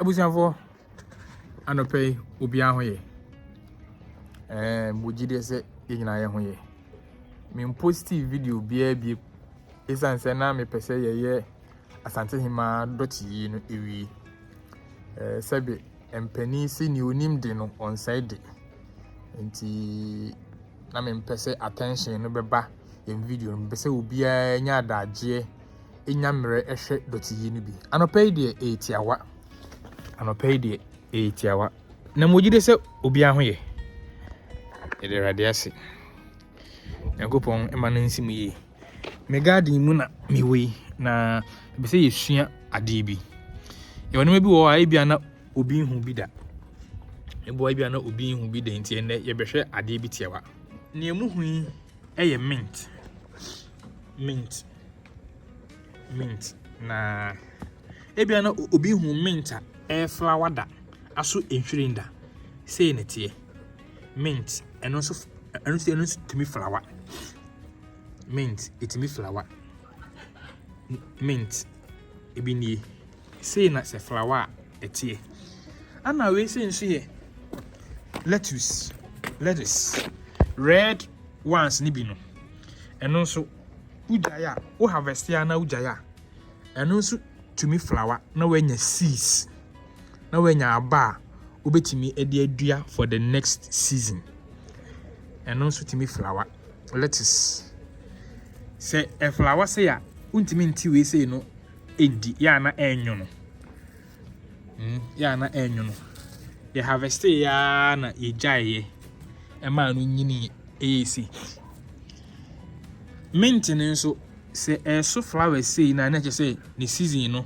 Abusuafoɔ, anɔpa yi obiara ho yɛ. Ɛɛ mo gyi deɛ sɛ yɛn nyinaa yɛ ho yɛ. Me mposti video biara bi esiane sɛ na mepɛ sɛ yɛyɛ Asante Hemaa dɔte yi no ewie. Ɛɛ sɛbe mpanin si nea onim de no ɔnsɛe de. Nti na mempɛ sɛ attention no bɛba yɛn video no mu. Mepɛ sɛ obiara nya adagyeɛ. nya mmerɛ hwɛ dɔteyɛ no bi. Anɔpa yi deɛ ɛyɛ tiawa. Anɔpa yi deɛ ɛyɛ tiawa. Na mogye de sɛ obiara ho yɛ. Yɛde Awurade ase. Nyankopɔn ma no nsi mu yie. Me garden mu na mewɔ yi na ɛbɛ sɛ yɛsua adeɛ bi. Yɛwɔ nneɛma bi wɔ hɔ a ebia na obi nhu bi da. Eboa ebia na obi nhu bi da nti ɛnɛ yɛbɛhwɛ adeɛ bi tiawa. Nea mu hu yi ɛyɛ mint. Mint. Mint na ebia na obi hu mint a ɛyɛ flower da aso nhwiren da. Sei na ɛteɛ. Mint ɛno nso ɛno nso ɛno nso tumi flower. Mint ɛtumi flower. Mint ebi nie. Sei na sɛ flower a ɛteɛ. Ɛna wei sei nso yɛ lettuce, lettuce. Red ones no bi no ɛno nso wogyae a, wo harvest a na wogyae a, ɛno nso tumi flower na wanya seeds, na wanya aba a wobɛtumi de adua for the next season. Ɛno nso tumi flower. Lettuce. Sɛ ɛflower sɛ a, wontumi nte wei sei no ɛndi, yɛ a na ɛnwono. mm yɛ a na ɛnwono. Yɛ harvestee yɛ ara na yɛgyaeeɛ ɛmaa no nyinii ɛyɛ si. Mint no nso sɛ ɛso flowers sei na na ɛkyɛ sɛ ne season no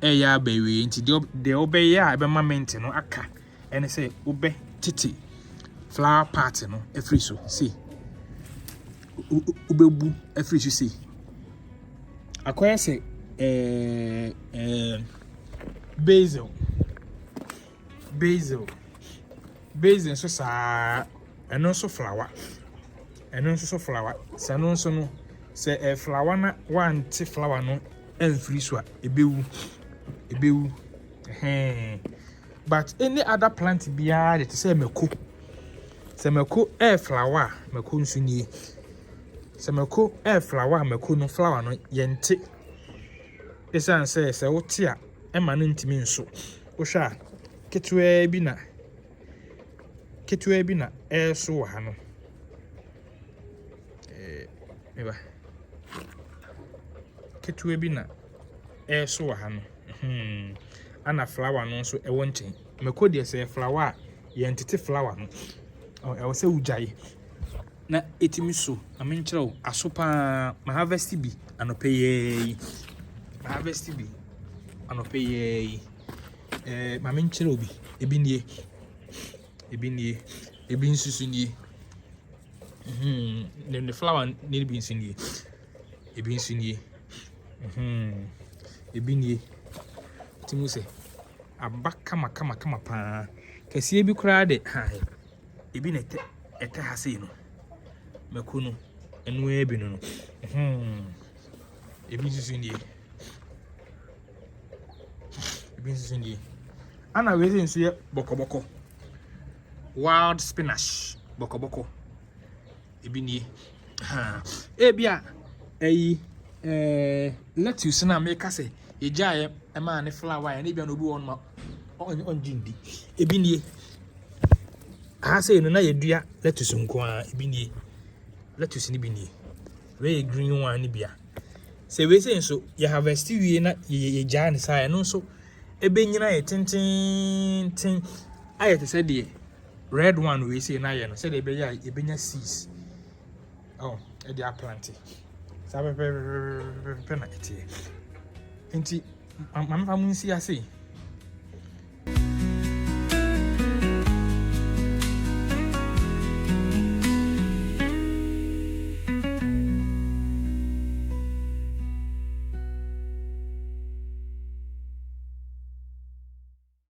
ɛyɛ aba awie nti deɛ wobɛyɛ a ɛbɛma mint no aka ɛne sɛ wobɛ tete flower part no ɛfiri so sei wobɛbu ɛfiri so sei. Akɔyɛ sɛ ɛɛ ɛɛ basil. Basil. Basil nso saa ɛno nso flower. Ɛno nso so flower. Sɛ ɛno nso no sɛ ɛɛ flower na wante flower no ɛmfiri so a ɛbɛwu. Ɛbɛwu. Ɛhɛn. But any other plant biara de te sɛ mako. Sɛ mako ɛyɛ flower a, mako nso nie. Sɛ mako ɛyɛ flower a, mako no flower no yɛnte. Ɛsiane sɛ sɛ wote a, ɛma no ntumi nso. Wohwɛ a, ketewaa bi na ketewaa bi na ɛreso wɔ ha no. Ɛɛ, meba. Ketewaa bi na ɛreso wɔ ha no, ɛna flower no nso wɔ nkyɛn. Mako deɛ sɛ ɛyɛ flower a, yɛntete flower no, ɛwɔ sɛ wogyae na ɛtumi so. Ma menkyerɛ wo, aso pa ara. Maharvest bi anɔpa yi ara yi. Maharvest bi anɔpa yi ara yi. Ɛɛ ma menkyerɛ wo bi. Ebi nie, ebi nie, ebi nso so nie. Hmm, ne flower no bi nso nie. Ebi nso nie. Ebi nie. Nti mohu sɛ aba kama kama kama paa. Kɛseɛ bi koraa de hae. Ebi na ɛtɛ ɛtɛ ha sei no. Mako no, ɛno ara bi no no. Ebi nso nie. Ebi nso nie. Ana wei sɛ nso yɛ bɔkɔbɔkɔ. Wild spinach bɔkɔbɔkɔ. Ebi nie. Ebia ɛyi eh, lettuce no a meka sɛ yɛgyaeɛ ɛmaa ne flower yɛ no ebia na obi wɔ hɔ nom a ɔngye ndi ebi nie aha sei no na yɛdua lettuce nko a ebi nie lettuce no bi nie wei yɛ green one no bia sɛ wei sei nso yɛ harvest wie na yɛgyaa ne saa ɛno nso ɛbɛnyina yɛ tententen ayɛ te sɛ deɛ Red one wei sei na yɛ no sɛdeɛ ɛbɛyɛ a yɛbɛnya seas oh, ɛde aplante saa pɛpɛpɛpɛpɛ na ɛteɛ nti mamefa mo nsi ase